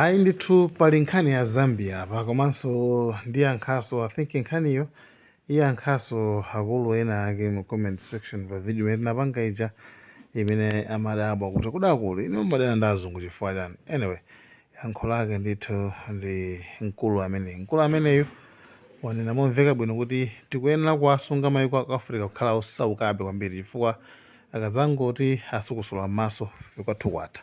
Ayi ndithu pali nkhani ya Zambia apa komanso ndiyankhanso I think nkhaniyo iyankhanso akulu ena ake mu comment section pa video imene tinapanga ija imene amadabwa kuti kodi akulu inu mumadana ndi azungu chifukwa chani? Anyway, yankho lake ndithu ndi mkulu ameneyu. Mkulu ameneyu wanena momveka bwino kuti tikuyenera kuwasunga mayiko a ku Africa kukhala osaukabe kwambiri chifukwa akazangoti asukusula m'maso kwathu kwatha.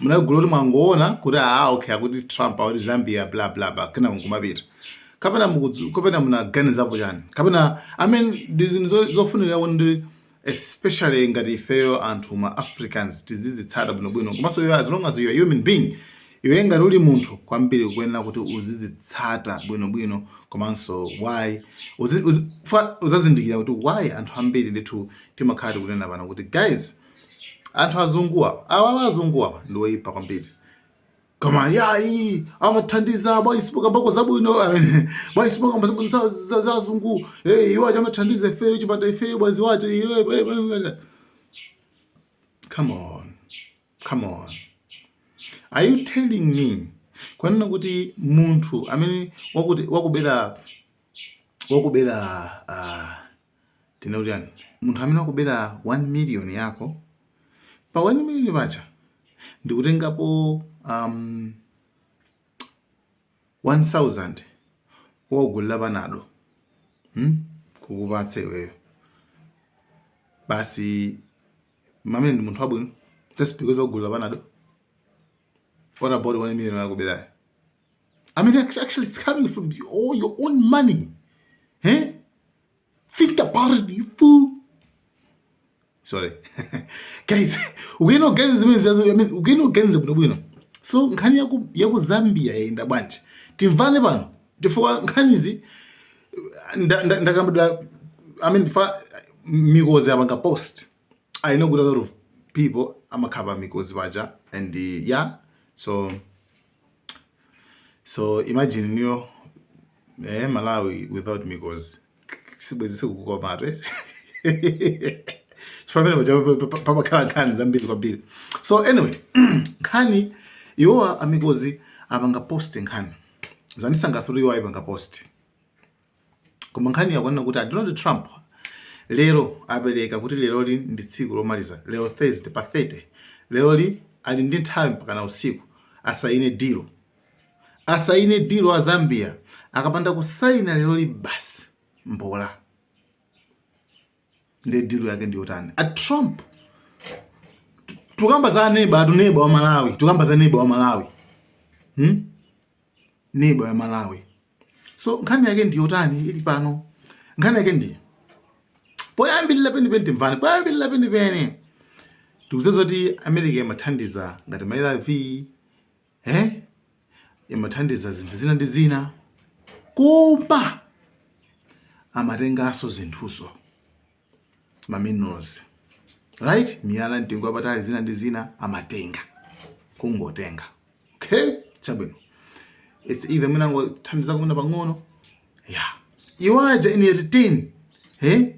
munali gulu loti mwangoona kuti aa ah, okay akuti trump akuti zambia bla bla bla kenako kumapita kapena mukudzu kapena munaganizapo chani kapena i mean ndi zinthu zofunira kuti especially ngati ifeyo anthu ma africans tizizitsata bwinobwino komanso iwe as long as you are human being iwe ngati uli munthu kwambiri kuyenera kuti uzizitsata bwinobwino komanso why uzazindikira kuti why anthu ambiri ndithu timakhala tikunena pano kuti guys anthu azunguwa awawa azunguwa ndi oyipa kwambiri koma ayi amathandiza bwanji simukambako zabwino amene bwanji simukamba zabwino za- za- za azungu Eh, iwo aja amathandiza ifeyo chipanda ifeyo bwenzi wache iwe- iwe- iwe- iwe. come on come on are you telling me kunena kuti munthu amene wakuti wakubera wakubera ah, tinene kuti chani, munthu amene wakubera 1 million yako, pa 1 million paja ndikutengapo um, 1000 wakugulira panado hmm? kukupatsa iweyo basi ameneyo ndi munthu wabwino just because wakugulira panado what about 1 million wakuberayo I mean, actually, it's coming from the, all your own money. Eh? Think about it, you fool. Sorry. guys, ukuyenera kuganiza zimene ziyazo, I mean, ukuyenera kuganiza bwino bwino. So, nkhani ya ku, ya ku Zambia yayenda bwanji. Timvane pano. Chifukwa nkhanizi ndakambira I mean, fa, mikozi apanga post. I know kuti a lot of people amakhala pa mikozi paja and uh, yeah. So, so imagine niyo eh, malawi without mikozi sibwenzi zikukomatu pamakhala nkhani zambiri kwambiri so anyway nkhani iwowa amikozi apanga post nkhani zandisangathula iwowa ayipanga post koma nkhani yakunena kuti a Donald Trump lero apereka kuti leroli ndi tsiku lomaliza lero Thursday pa 30 leroli ali ndi nthawi mpakana usiku asayine dilo asayine dilo a Zambia akapanda kusayina leroli basi mbola nde deal yake ndi yotani a trump tukamba za neba atu neba wa malawi tukamba za neba wa malawi hmm? neba wa malawi so nkhani yake ndi yotani ili pano nkhani yake ndiye poyambirira penipeni timvani poyambirira penipeni tikudziwa kuti america imathandiza ngati ma arv eh? imathandiza zinthu zina ndi zina koma amatenganso zinthuzo ma minerals right miyala mtengo wapatali zina ndi zina amatenga kungotenga okay chabwino it's either mwina angothandiza kumene pang'ono yeah iwo aja in return eh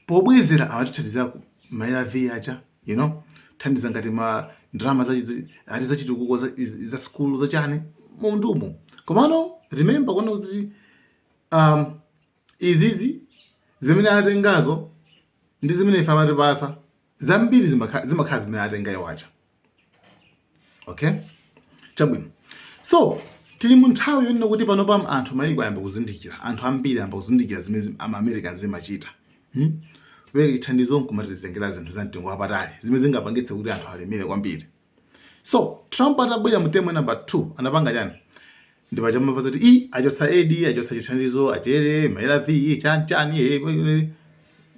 pobwezera amatithandizira ku ma arv aja you know thandiza ngati ma ndalama za chi- ati zachitukuko za, iz- za sukulu zachani m'mundamu komano remember kunena kuti um, izizi zimene atengazo ndi zimene ife amatipasa zambiri zimakhala zimene atenga iwo aja okay chabwino so tili mu nthawi yonena kuti panopa anthu mayiko ayamba kuzindikira anthu ambiri ayamba kuzindikira zimene ama americans amachita hmm? kupereka chithandizo nkumatitengera zinthu za mtengo wapatali zimene zingapangitse kuti anthu alemere kwambiri so trump atabwera mu term number 2 anapanga chani ndi paja munamva zoti i achotsa aid achotsa chithandizo achere maarv chani chani eh, eh, eh.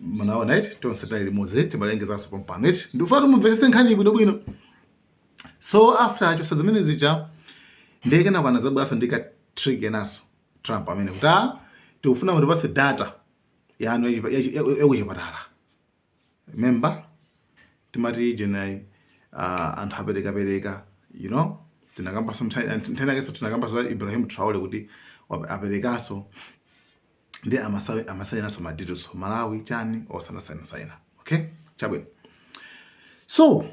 munaona eti tonse tinali limodzi timalengezanso pompano eti ndikufuna mumvetsetse nkhani bwino bwino so after achotsa zimene zija ndiye kenako anadzabweranso ndi ka trick kenaso trump amene kuti ah, tikufuna mutipatse data yanu yachi- yachi- yakuchipatala remember timati generally uh, anthu aperekapereka you know tinakamba sometime nkhani yake tinakambaso za Ibrahim Traore kuti wa- aperekaso ndi amasawe amasainaso madeals Malawi chani osanasaina saina okay chabwino so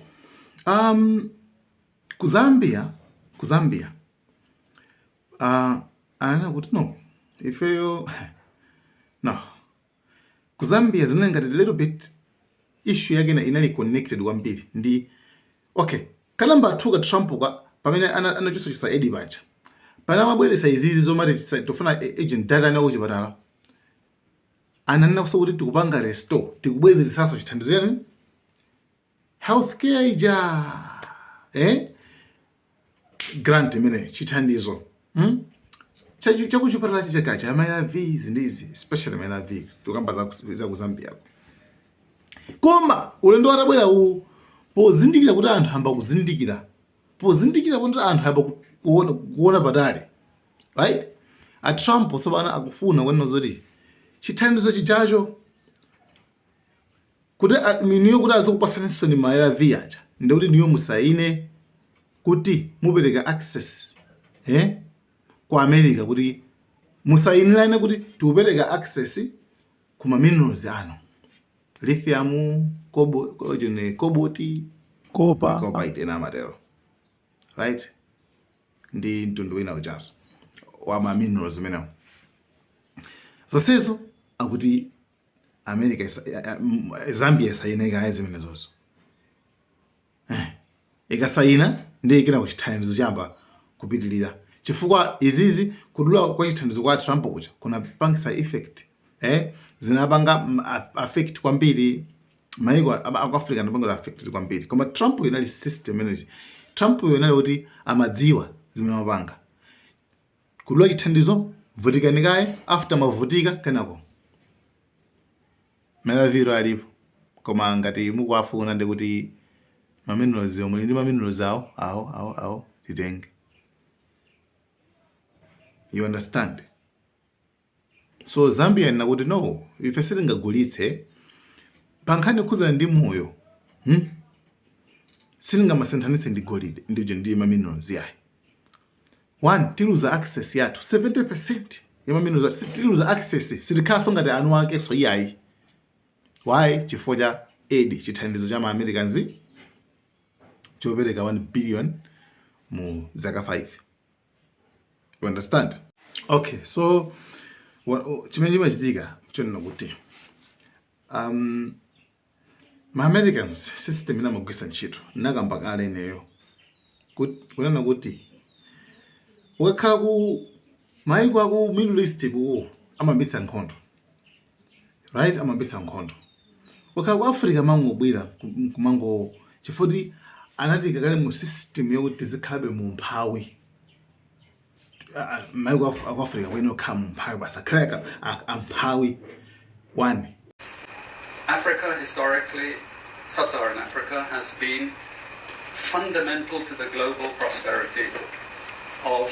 um ku Zambia ku Zambia uh, ananena kuti no ifeyo no Ku Zambia zinali ngati a little bit issue yake ina inali connected kwambiri ndi okay ka number 2 ka Trump ka pamene ana- anachosachosa aid paja pamene amabweretsa izizi zomati tisa- tikufuna a- urgent data yanu yakuchipatala ananenanso kuti tikupanga restore tikubwezeretsanso chithandizo yani healthcare ija eh? grant imene chithandizo hmm? chakuchipatala chija cha ma ARVs ndi izi especially ma ARV tikukamba za ku Zambia koma ulendo wadzabwera uwu pozindikira kuti anthu ayamba kuzindikira pozindikira kuti anthu ayamba kuona, kuona patali right a Trump tsopano akufuna kuona zoti chithandizo chijacho kuti a- inuyo kuti azikupatsaninso ma arv aja ndekuti inuyo musaine kuti mupereka access eh, ku america kuti musainirane kuti tikupereka access ku ma minerals anu lithium kobo, ko- chine, koboti kopa kopa ena amatero right ndi mtundu wina ujanso wa ma minerals umenewo zonsezo akuti america isa- ya- ya- m- zambia isayine kaye zimenezozo Eh, ikasayina ndiye kuti chithandizo chiyamba kupitirira chifukwa izizi kudula kwa chithandizo kwa trump kuja kunapangisa effect eh, zinapanga mm, a- affect kwambiri maiko a- a- aku africa anapanga affected kwambiri koma trump yo inali system yake trump yo inali kuti amadziwa zimene amapanga Kudula chithandizo, Vutikani kaye after mwavutika kenako ma arv wo alipo koma ngati mukuwafuna ndekuti ma minerals wo muli ndi ma minerals awo awo awo ifeyo titenge you understand. So Zambia yanena kuti no ife sitingagulitse pankhani yokhudzana ndi moyo hmm? sitingamasinthanitse ndi golide ndi uja ndi maminerals yayi one tiluza access yathu 70% ya maminerals athu tiluza access sitikhalanso ngati eni akenso iyayi why chifukwa cha aid chithandizo cha maamericans chopereka 1 billion mu zaka 5 You understand? Okay, so chimene chimachitika chonena kuti um, ma-americans system imene amagwiritsa ntchito nakamba kale ineyo kunena kuti ukakhala ku maiko aku middle east kuja amayambitsa nkhondo Right amayambitsa nkhondo. Ukakhala ku Africa amangobwera kumango chifukwa kuti anatiika kale mu system yokuti tizikhalabe mu umphawi. Maiko aku Africa kuyenera kukhala mu umphawi basi akhale amphawi one. Africa historically, sub-Saharan Africa has been fundamental to the global prosperity of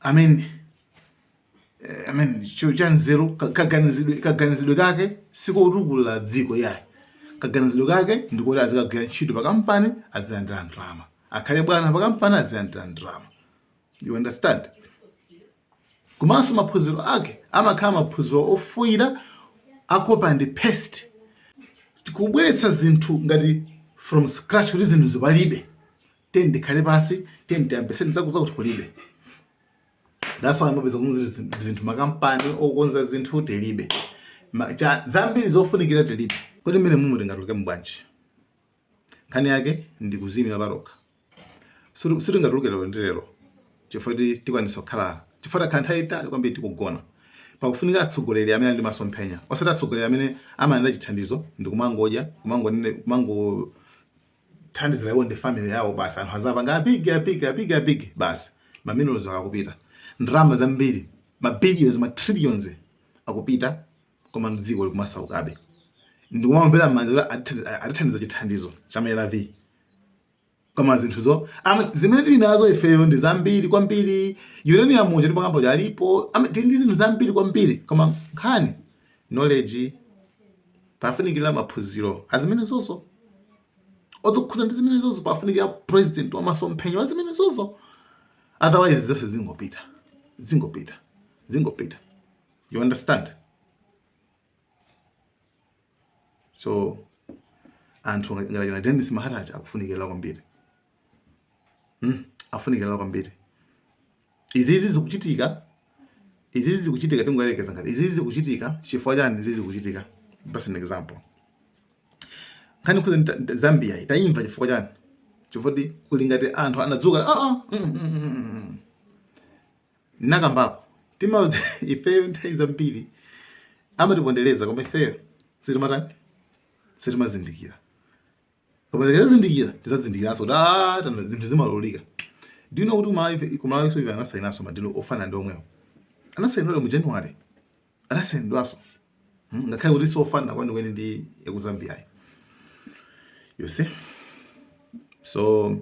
amen eh, amen chinthu cha nzeru ka- kaganizidwe kaganizidwe kake sikotukula dziko yayi kaganizidwe kake ndikuti azikagwira ntchito pakampani azilandira ndalama akhale bwana pakampani azilandira ndalama you understand komanso maphunziro ake amakhala maphunziro a theory a copy and paste kubweretsa zinthu ngati from scratch kuti zinthu izi palibe tiyeni tikhale pansi tiyeni tiyambitse zakuti zakuti kulibe that's why mupeza kuti zinthu makampani okonza zinthu tilibe zambiri zofunikira tilibe kodi mmenemumu tingatulukemo bwanji nkhani yake ndi kuzimira pawekha sitingatuluke lero ndi lero chifukwa tikwanitsa kukhala chifukwa takhala nthawi yaitali kwambiri tikugona pakufunika atsogoleri amene ali ndi masomphenya osati atsogoleri amene amayenda chithandizo ndi kumangodya kumangonene kumango kuthandizira iwo ndi family yawo basi anthu azapanga apigi apigi apigi apigi basi ma minerals akupita ndalama zambiri ma billions ma trillions akupita koma dziko likumasaukabe ndikumaombera m'manja kuti atithandiza- a- atithandiza chithandizo cha ma arv koma zinthuzo ama- zimene tili nazo ifeyo ndi zambiri kwambiri uranium uja timakamba alipo ama- tili ndi zinthu zambiri kwambiri koma nkhani knowledge pafunikira maphunziro azimenezozo okhudzana ndi zimenezozo pafunikira president wa masomphenya wa zimenezozo otherwise zonse zingopita zingopita zingopita you understand so anthu ngati achina denis mahata akufunikira kwambiri hmm? akufunikira kwambiri izizi zikuchitika izizi zikuchitika tingoyerekeza ngati izizi zikuchitika chifukwa chani izizi zikuchitika just an example nkhani ku Zambia itayima chifukwa chani chifukwa kuli ngati anthu anadzuka ah ah mm, mm, mm, mm, mm, mm. nakambako tima ifeyo nthawi zambiri amatipondereza koma ifeyo sitimatani sitimazindikira koma tikazindikira tizazindikiranso kuti ah tana zinthu zimalolika do you know kuti kumalawi kumalawinso ife anasayinanso madilu ofanana ndi omwewo anasayinidwa mu january anasayinidwanso Hmm, ngakhale kuti siofanana kwenikweni ndi yaku Zambia yi you see so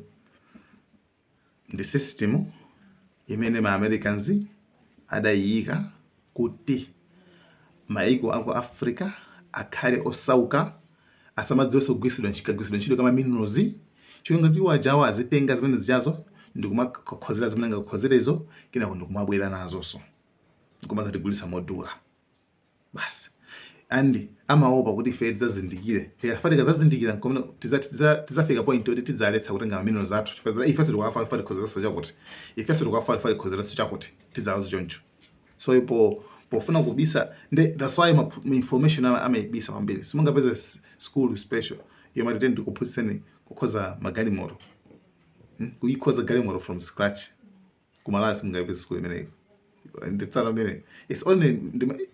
Ndi system imene ma Americans adayiyika kuti maiko aku Africa akhale osauka, asamadziwenso kugwiritsidwa, kagwiritsidwe ntchito ka ma minerals, cholinga choti iwo ajawa azitenga zimene zijazo ndikumakonzera zimene angakonzerezo kenako ndikumabwera nazonso nkumazatigulitsa modula. basi and amaopa kuti ife tidzazindikire tikafa tikadzazindikira nkomwe tidzati- tidza- tidzafika point yoti tidzaletsa kutenga ma minerals athu chifukwa za- ifenso tikuwafa ifa tikhozeranso chakuti ifenso tikuwafa ifa tikhozeranso chakuti tidzalanso choncho so ipo pofuna kubisa nde that's why ma, ma information ama- amaibisa kwambiri simungapeze s- school special yomwe atati ndikuphunzitseni kukhoza magalimoto hmm? kuyikhoza galimoto from scratch ku Malawi simungaipeze school imeneyi nditsala mene it's only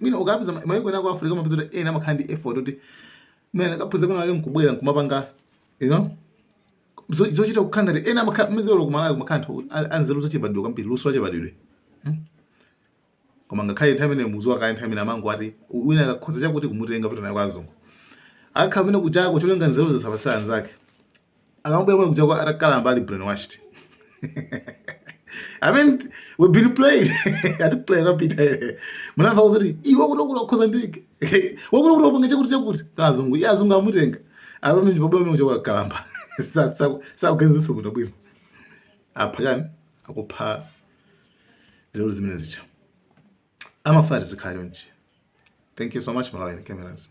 mine ukapeza maiko ena ku Africa mumapeza kuti ena amakhala ndi effort kuti mene akaphunzira kwinakwake nkubwera nkumapanga you know zochita kukhala ngati ena amakhala mizolo ku Malawi kumakhala anthu anzeru zachibadidwe kwambiri luso lachibadidwe hmm? koma ngakhale nthawi imeneyo mudziwa kaya nthawi imene amango ati wina akakhoza chakuti kumutenga kupita naye kwa azungu akakhale kunjako cholinga nzeru zisapatsire anzake akamabwera mwe kunjako atakalamba ali brainwashed I mean, we've been played. Ati play kapita ere. Munamva kuti iwe kuno kuno khoza ndike. Wakuno kuno panga chakuti chakuti. Kazungu, ya azungu amutenga. Alomwe njibabo mwe kunjako kalamba. Sa sa sa kuganiza zakuno bwino. Apha chani? Akupha nzeru zimenezija amafuna tizikhala chonchi thank you so much malawi cameras